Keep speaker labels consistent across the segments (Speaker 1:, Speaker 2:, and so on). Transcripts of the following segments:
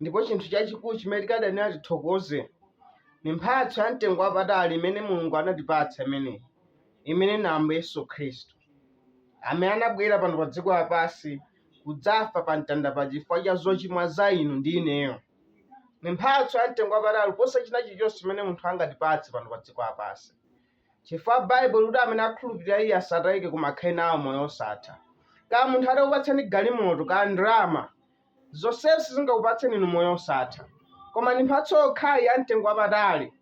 Speaker 1: ndipo chinthu chachikulu chimene tikadayenera tithokoze ni mphatso ya mtengo wapatali imene mulungu anatipatsa imeneyi imene ni ambuye yesu khristu amene anabwera pano pa dziko lapansi kudzafa pa mtanda pa chifukwa cha zochimwa za inu ndi ineyo ni mphatso ya mtengo wapatali kuposa china chilichonse chimene munthu angatipatse pano pa dziko lapansi Chifukwa Baibulo likuti amene akhulupilira iye asataike koma akhale nawo moyo osatha. Kaya munthu atakupatsani galimoto kaya ndalama zonsezi sizingakupatseni inu moyo osatha. Koma ndi mphatso yokhayi ya mtengo wapatali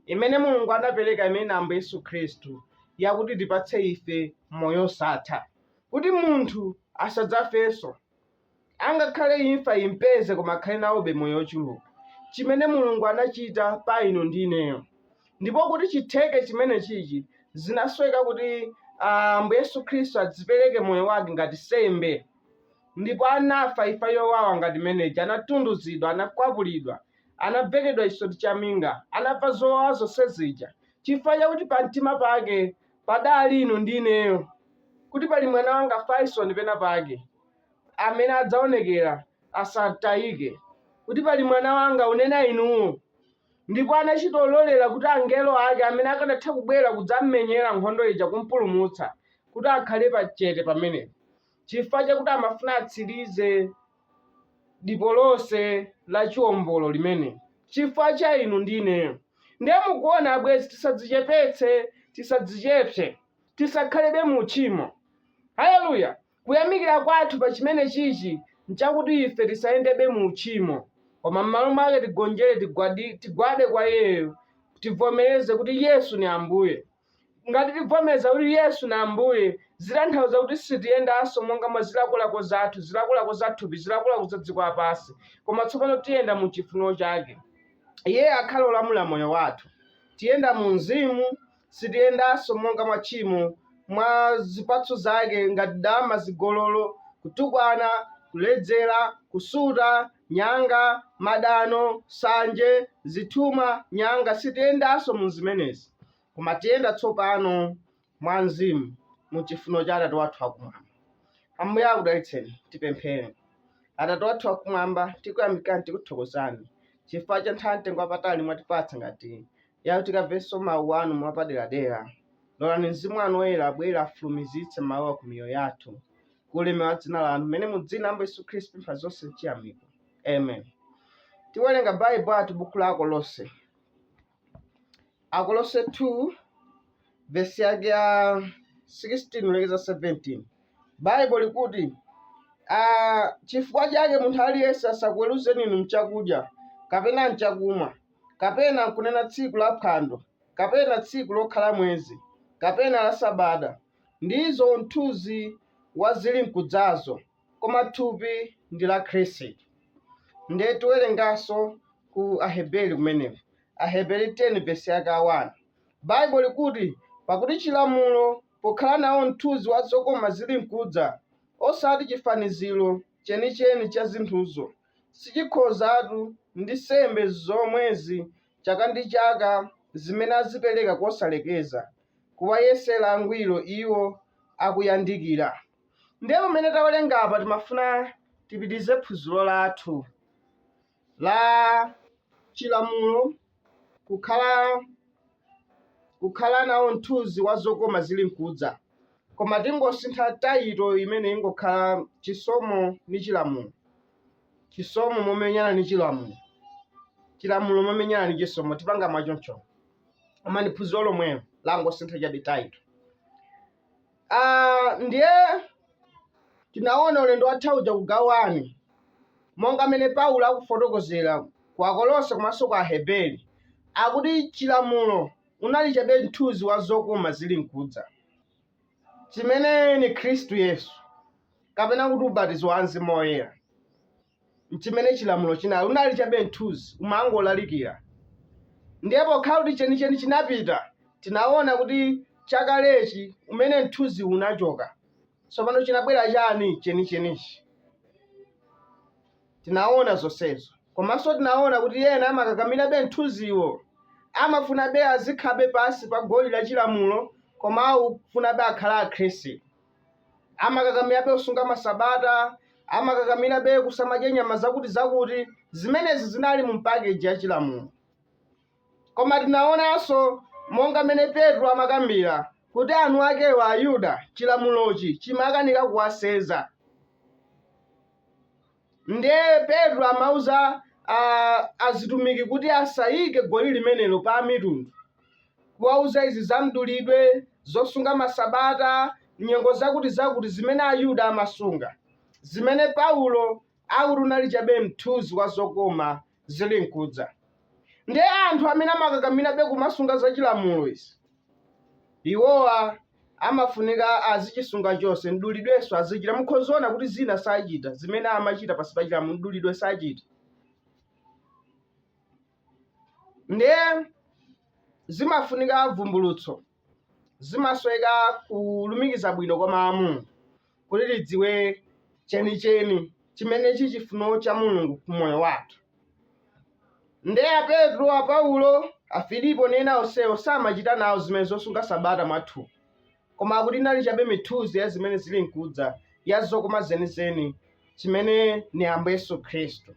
Speaker 1: imene Mulungu anapereka imene ndi Ambuye Yesu Khristu yakuti itipatse ife moyo osatha. Kuti munthu asadzafenso. Angakhale imfa impeze koma akhale nawobe moyo ochuluka. Chimene Mulungu anachita pa inu ndi ineyo. Ndipo kuti chitheke chimenechichi zinasoweka kuti a, Ambuye Yesu Khristu adzipereke moyo wake ngati nsembe. Ndipo anafa imfa yowawa ngati imene ija, anatunduzidwa, anakwapulidwa, anabvekedwa chisoti cha minga, anamva zowawa zonse zija, chifukwa chakuti pa mtima pake padali inu ndi ineyo, kuti pali mwana wanga Faison pena pake. amene adzaonekera asatayike, kuti pali mwana wanga unena inuwo, ndipo anachita ololera kuti angelo ake amene akanatha kubwera kudzammenyera nkhondo ija kumpulumutsa, kuti akhale pa chete pamene, chifukwa chakuti amafuna atsirize dipo lonse la chiwombolo limene. chifukwa cha inu ndi ineyo. Ndiye mukuona, abwenzi, tisadzichepetse, tisadzichepse, tisakhalebe mu uchimo. Haleluya! Kuyamikira kwathu pa chimenechichi n'chakuti ife tisayendebe mu uchimo, koma m'malo mwake tigonjere, tigwade kwa Iyeyo, tivomereze kuti Yesu ni Ambuye. Ngati tivomereza kuti Yesu ni Ambuye, zitanthauza kuti sitiyendanso monga mwa zilakolako zathu, zilakolako za thupi, zilakolako za dziko lapansi, koma tsopano tiyenda mu chifuniro chake. Iye akhala olamula moyo wathu. Tiyenda mu Mzimu, Sitiyendanso monga mwa tchimo, mwa zipatso zake, ngati dama, zigololo, kutukwana, kuledzera, kusuta, nyanga, madano, nsanje, zithumwa, nyanga, sitiyendanso mu zimenezi, koma tiyenda tsopano mwa Mzimu, mu chifuniro cha Atate wathu wakumwamba. Ambuye akudalitseni. Tipemphere. Atate wathu wakumwamba, tikuyamikani, tikuthokozani chifukwa cha nthawi mtengo wapatali mwatipatsa ngati ya kuti tikamvenso Mawu Anu mwapaderadera. Lolani Mzimu Wanu Woyera abwere afulumizitse Mawuwa ku miyoyo yathu, ku ulemerero wa dzina Lanu, pamene mu dzina la Ambuye Yesu Khristu tipempha zonse m'chiyamiko. Amen. Tiwerenga Baibo athu buku la Akolose. Akolose 2 vesi yake ya 16 kulekeza 17. Baibo likuti Ah, chifukwa chake munthu aliyense asakuweruzeni inu mchakudya kapena mchakumwa kapena nkunena tsiku la phwando, kapena tsiku lokhala mwezi, kapena la sabata, ndizo mthunzi wa zilinkudzazo, koma thupi ndi la Khristu. Ndiye tiwerenganso ku Aheberi kumeneko, Aheberi 10 vesi yake a 1. Baibo likuti, pakuti chilamulo pokhala nawo mthunzi wa zokoma zilinkudza, osati chifaniziro chenicheni cha zinthuzo, sichikhozatu ndi sembe zomwezi chaka ndi chaka zimene azipereka kosalekeza, kuwayesera angwiro iwo akuyandikira. Ndiye pamene tawerenga apa timafuna tipitize phunziro lathu la chilamulo kukhala kukhala nawo mthunzi wa zokoma zili nkudza koma tingosintha tayito imene ingokhala chisomo ni chilamulo chisomo momenyana ni chilamulo chilamulo momenyana ni chisomo tipanga mwachoncho koma ni phunziro lomwelo langosintha chabe tayito Ah, ndiye tinaona ulendo watha uja kugawani monga mmene paulo akufotokozera ku akolose komanso ku aheberi akuti chilamulo unali chabe mthunzi wa zokoma zili mkudza chimene ni khristu yesu kapena kuti ubatizo wa mzimu woyera nchimene chilamulo chinali. Unali chabe mthuzi, umangolalikira. Ndiye pokhala kuti chenicheni chinapita, tinaona kuti chakalechi, umene mthuzi unachoka, tsopano chinabwera chani? Chenichenichi. Tinaona zonsezo, komanso tinaona kuti ena amakakamirabe mthuziwo, amafunabe azikhalabe pansi pa goli la chilamulo, koma akufunabe akhale Akhristu. amakakamirabe kusunga masabata amakakamirabe kusamadya nyama zakuti zakuti zimenezi zinali mu pakeji ya chilamulo koma tinaonanso monga mmene petro amakambira kuti anthu akewa ayuda chilamulochi chimakanika kuwasenza Ndiye Petro amauza a, azitumiki kuti asaike goli limenelo pa Amitundu, kuwauza izi za mdulidwe, zosunga masabata, nyengo zakuti-zakuti zimene Ayuda amasunga, zimene Paulo akuti unali chabe mthunzi wa zokoma zili nkudza. Nde anthu amene amakakamirabe kumasunga za chilamulo izi, iwowa amafunika azichisunga chonse, mdulidwenso azichita. Mukhozaona kuti zina sachita, zimene amachita pansi pa chilamulo, mdulidwe sachita. Nde zimafunika vumbulutso. zimasoweka kulumikiza bwino kwa mulungu kuti tidziwe chenicheni chimene chi chifuno cha mulungu ku moyo wathu nde a petro a paulo a filipo ndi ena onsewo samachita nawo zimene zosunga sabata mwathu koma akuti inali chabe mithunzi ya zimene zili nkudza ya zokoma zenizeni chimene ni ambuye yesu khristu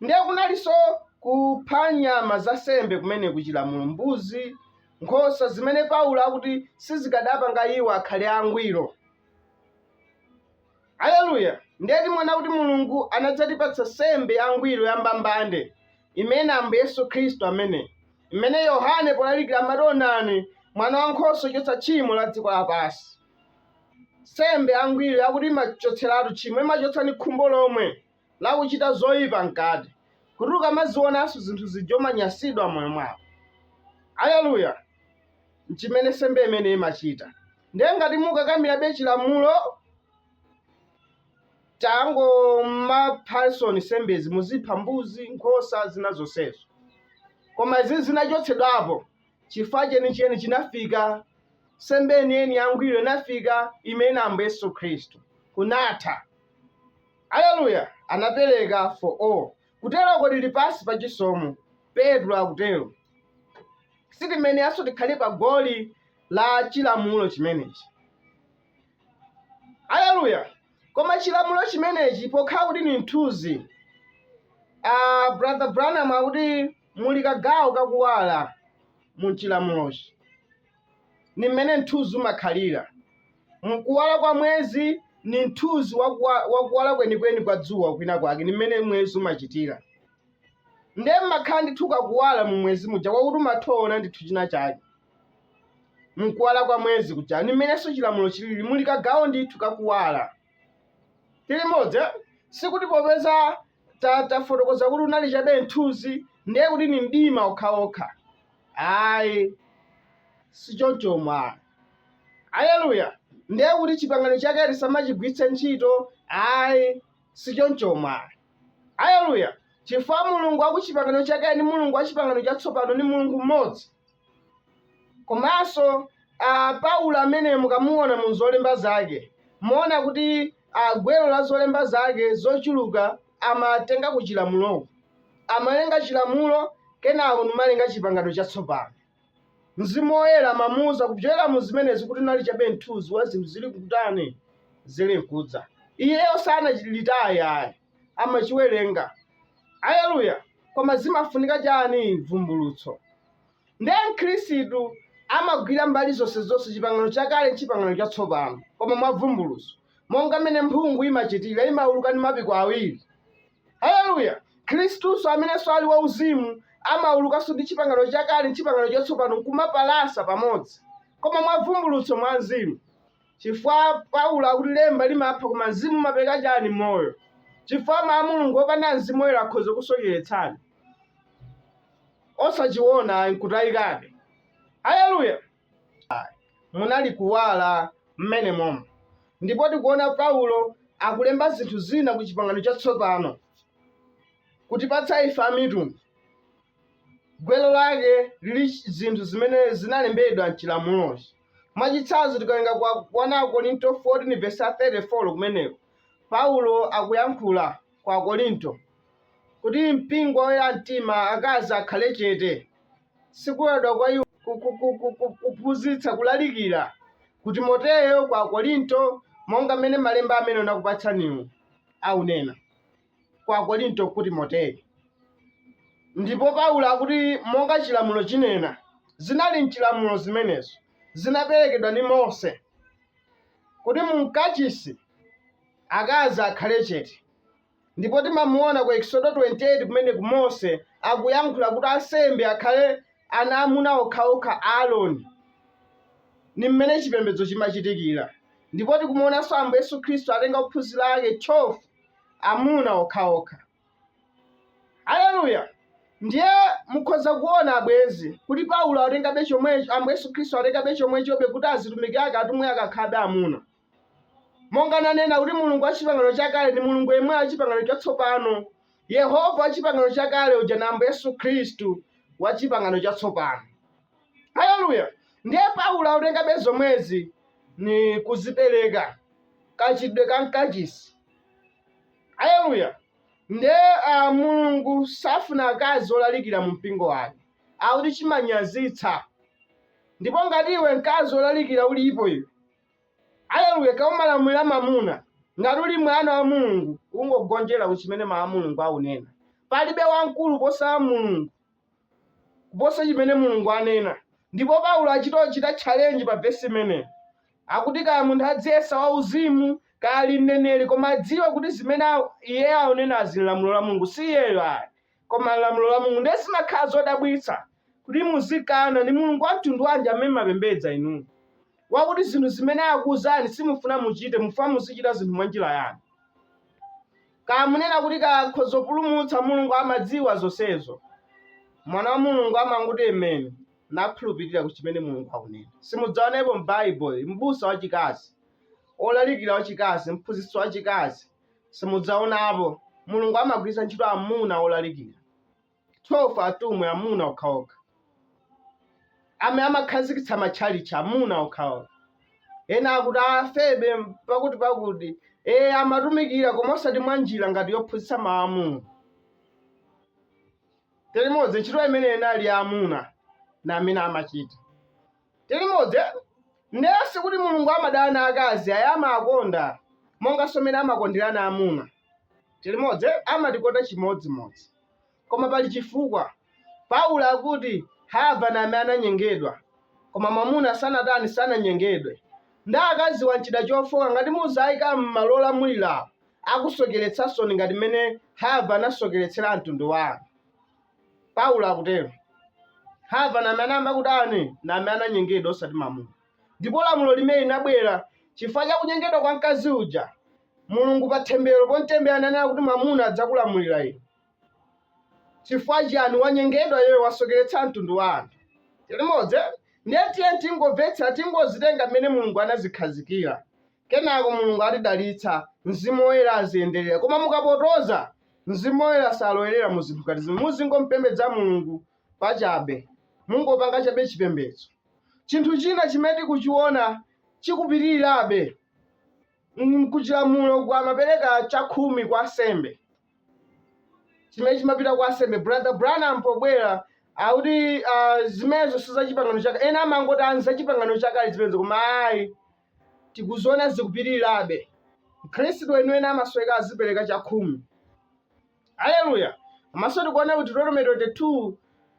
Speaker 1: ndiye kunalinso kupha nyama za sembe kumene kuchilamulo mbuzi nkhosa zimene paulo akuti sizikadapanga iwo akhale angwiro aleluya ndiye timaona kuti mulungu anadzatipatsa sembe yangwiro yambambande imene ambuye yesu khristu amene imene yohane polalikira amati onani mwana wa nkhosa wochotsa tchimo la dziko lapansi sembe yangwiro yakuti imachotseratu tchimo imachotsa ni khumbo lomwe la kuchita zoipa mkati, kuti ukamazionanso zinthu zija umanyansidwa m'moyo mwako. Aleluya! Nchimene nsembe imene imachita. Ndiye ngati mukakamirabe chilamulo, tangomaphansoni nsembezi, muzipha mbuzi, nkhosa, zina zonsezo. Koma izi zinachotsedwapo. chifukwa chenicheni chinafika, nsembe yeniyeni yangwiro inafika, imene Ambuye Yesu Khristu kunatha. Aleluya! Anapereka for all. Kutero ko tili pansi pa chisomo, Petro akutero. Sitiyeneranso tikhale pa goli la chilamulo chimenechi. Aleluya! Koma chilamulo chimenechi pokhala kuti ndi mthunzi, ah, Brother Branham akuti Muli kagawo ka kuwala mu chilamulochi. Ni mmene mthunzi umakhalira. M, Kuwala kwa mwezi ni mthunzi wa kuwala kwenikweni kwa dzuwa kwinakwake. Ni mmene mwezi umachitira. Ndiye mmakhala ndithu kakuwala mu mwezi muja kwakuti umathoona ndithu chinachake. M, Kuwala kwa mwezi kuja. Ni mmenenso chilamulo chilili. Muli kagawo ndithu ka kuwala. tili modzi eh? sikuti popeza tafotokoza kuti unali chabe mthunzi ndiye kuti ni mdima okhaokha ayi sichoncho mwa aleluya ndiye kuti chipangano chakale tisamachigwiritse ntchito ayi sichoncho mwa Aleluya! Chifukwa Mulungu wa ku Chipangano Chakale ndi Mulungu wa Chipangano Chatsopano ndi Mulungu mmodzi. Komanso ah, Paulo amene mukamuona mu zolemba zake, muona kuti ah, gwero la zolemba zake zochuluka amatenga ku chilamuloku. Amalenga chilamulo kenako n'kumalenga Chipangano Chatsopano. Mzimu Woyera amamuuza kupyolera mu zimenezi kuti unali chabe mthunzi wa zinthu zili nkutani, zili nkudza. Iyeyo sanachilitaye ayi, amachiwerenga. Aleluya! Koma zimafunika chani? Vumbulutso. Ndiye Mkhristu amagwira mbali zonsezonse Chipangano Chakale ndi Chipangano Chatsopano, koma mwa vumbulutso. monga mmene mphungu imachitira imauluka ndi mapiko awiri haleluya mkhristunso amenenso ali wauzimu amaulukanso ndi chipangano chakale chipangano chatsopano nkumapalasa pamodzi koma mwa vumbulutso mwa mzimu chifukwa paulo akuti lemba limapha koma mzimu umapereka chani moyo chifukwa mawu a mulungu opanda mzimu woyera akhoza kusocheretsani osachiona nkutayikabe haleluya Munali kuwala mmenemomu. Ndipo tikuona Paulo akulemba zinthu zina ku Chipangano Chatsopano, kutipatsa ife amitundu. Gwero lake lili zinthu zimene zinalembedwa m'chilamulochi. Mwachitsanzo, tikawerenga kwa 1 Akorinto 14 vesi 34 kumeneko, Paulo akuyankhula kwa Akorinto Kuti mpingo wa oyera mtima akazi akhale chete, si kuloledwa kwa iwo ku, ku, ku, ku, ku, kuphunzitsa, kulalikira, ku Timoteo, ku Akorinto, monga mmene Malemba amene ndakupatsaniwo aunena, ku Akorinto, ku Timoteo. Ndipo Paulo akuti, monga chilamulo chinena, zinali m'chilamulo zimenezo, zinaperekedwa ndi Mose, kuti mu mkachisi akazi akhale chete. Ndipo timamuona ku Eksodo 28 kumeneko Mose akuyankhula kuti ansembe akhale ana amuna okhaokha a Aroni. Ni mmene chipembedzo chimachitikira. Ndipo tikumuonanso Ambuye Yesu Khristu atenga ophunzira ake 12 amuna okhaokha. Aleluya! Ndiye mukhoza kuona abwenzi kuti Paulo atengabe chomwecho, Ambuye Yesu Khristu atengabe chomwechobe kuti azitumiki ake atumwi akakhalabe amuna. Monga nanena kuti Mulungu wa Chipangano Chakale ndi Mulungu yemweyu wa Chipangano Chatsopano, Yehova wa Chipangano Chakale uja na Ambuye Yesu Khristu wa Chipangano Chatsopano. Haleluya! Ndiye Paulo akutengabe zomwezi ni kuzipereka kachitidwe ka mkachisi. Haleluya! Ndiye uh, Mulungu safuna akazi olalikira mu mpingo wake, akuti chimanyazitsa. Ndipo ngati iwe mkazi olalikira ulipo iwe Aleluya! Kaya umalamulira mamuna, ngati uli mwana wa Mulungu, ungogonjera ku chimene Mawu a Mulungu aunena. Palibe wamkulu kuposa Mulungu, kuposa chimene Mulungu anena. Ndipo Paulo achito chita challenge pa vesi imeneyo. Akuti kaya munthu adziyesa wauzimu, kaya ali mneneri, koma adziwe kuti zimene iye aunenazi n'lamulo la Mulungu, si iyeyo ayi. Koma n'lamulo la Mulungu ndiye zimakhala zodabwitsa kuti muzikana. Ndi Mulungu wa mtundu wanji amene mumapembedza inuyo, wakuti zinthu zimene akuuzani simufuna muchite, mufuna muzichita zinthu mwa njira yanu? Kaya munena kuti kaya akhoza kupulumutsa, Mulungu amadziwa zonsezo. Mwana wa Mulungu amangoti amen nakhulupirira ku chimene Mulungu akunena. Simudzaonepo m'Baibulo m'busa wachikazi, wolalikira wachikazi, mphunzitsi wachikazi, simudzaonapo mulungu amagwiritsa ntchito amuna olalikira 12 atumwi amuna okhaokha amene amakhazikitsa matchalitchi amuna okhaokha ena akuti a febe pakuti pakuti ee amatumikira koma osati mwa njira ngati yophunzitsa mawu a mulungu tilimodzi ntchito imene inali ya amuna na amene amachita Tili modzi nde sikuti mulungu amadana akazi ai amakonda monganso mmene amakondelana amuna tili modzi amatikonda chimodzimodzi koma pali chifukwa paulo akuti hava namene ananyengedwa koma mwamuna sanatani sananyengedwe nde akaziwa n'chida chofoka ngati muzaika mmalo olamulilao akusokeletsansoni ngati mene hava anasokeletsela mtundu wa anthu. Paulo akutero. Hava namene anayamba kutani namene ananyengedwa osati mamuna. Ndipo lamulo limeneli linabwera chifukwa cha kunyengedwa kwa mkazi uja, Mulungu pa thembero pomtembera ananena kuti mwamuna adzakulamulira iwe. Chifukwa chiyani wanyengedwa iye wasokeretsa mtundu wa anthu. Tilimodzi ndiye tiyeni tingomvetsera tingozitenga mmene Mulungu anazikhazikira. Kenako Mulungu atidalitsa, Mzimu Woyera aziyendelera. Koma mukapotoza, Mzimu Woyera salowerera mu zinthu ngati zimene. Muzingompembedza Mulungu pachabe. Mungopanga chabe chipembedzo. Chinthu china chimene tikuchiona chikupitilirabe n'kuchilamulo uku amapereka chakhumi kwa ansembe. Chimene chimapita kwa ansembe. Brother Branham pobwera akuti ah, zimenezo si za chipangano chakale. Ena amangoti a n'za chipangano chakale zimenezo koma ayi. tikuziona zikupitirirabe. Mkhristu weniweni amasoweka azipereka chakhumi. Aleluya! Komanso tikuona ku Deuteronomy 22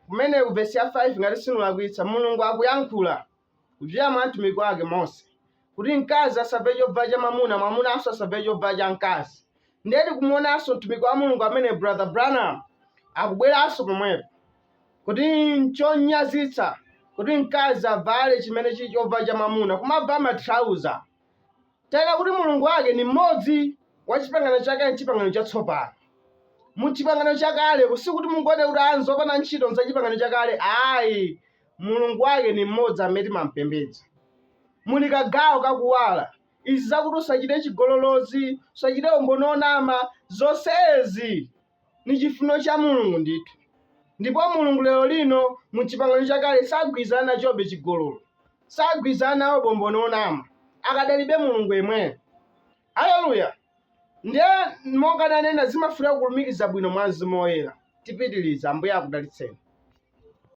Speaker 1: kumene ku vesi ya 5 ngati sinulakwitsa, Mulungu akuyankhula kudzera mwa mtumiki wake Mose kuti mkazi asavale chovala cha mwamuna, mwamunanso asavale chovala cha mkazi. ndiye tikumuonanso mtumiki wa mulungu amene brother branham akubweranso pomwepo kuti nchonyazitsa kuti mkazi avale chimene chili chovala cha mwamuna kumavala matrauza telo kuti mulungu wake ni mmodzi wa chipangano chakale ndi chipangano chatsopano mu chipangano chakale kusikuti mungoti kuti ah nzopanda ntchito ndza chipangano chakale ayi mulungu wake ni mmodzi amene timampembedza muli kagawo kakuwala Izi zakuti usacite cigololo zi, usacite umboni wonama, zonsezi ni cifunilo ca Mulungu ndithu. Ndipo Mulungu lelo lino, mu Cipangano Cakale, sagwilizana naco be cigololo. Sagwilizana nawo be umboni wonama. Akadalibe Mulungu yemweyo. Aleluya! Ndiye, monga nanena, zimafunika kulumikiza bwino mwa Mzimu Woyela. Tipitiliza. Ambuye akudalitseni.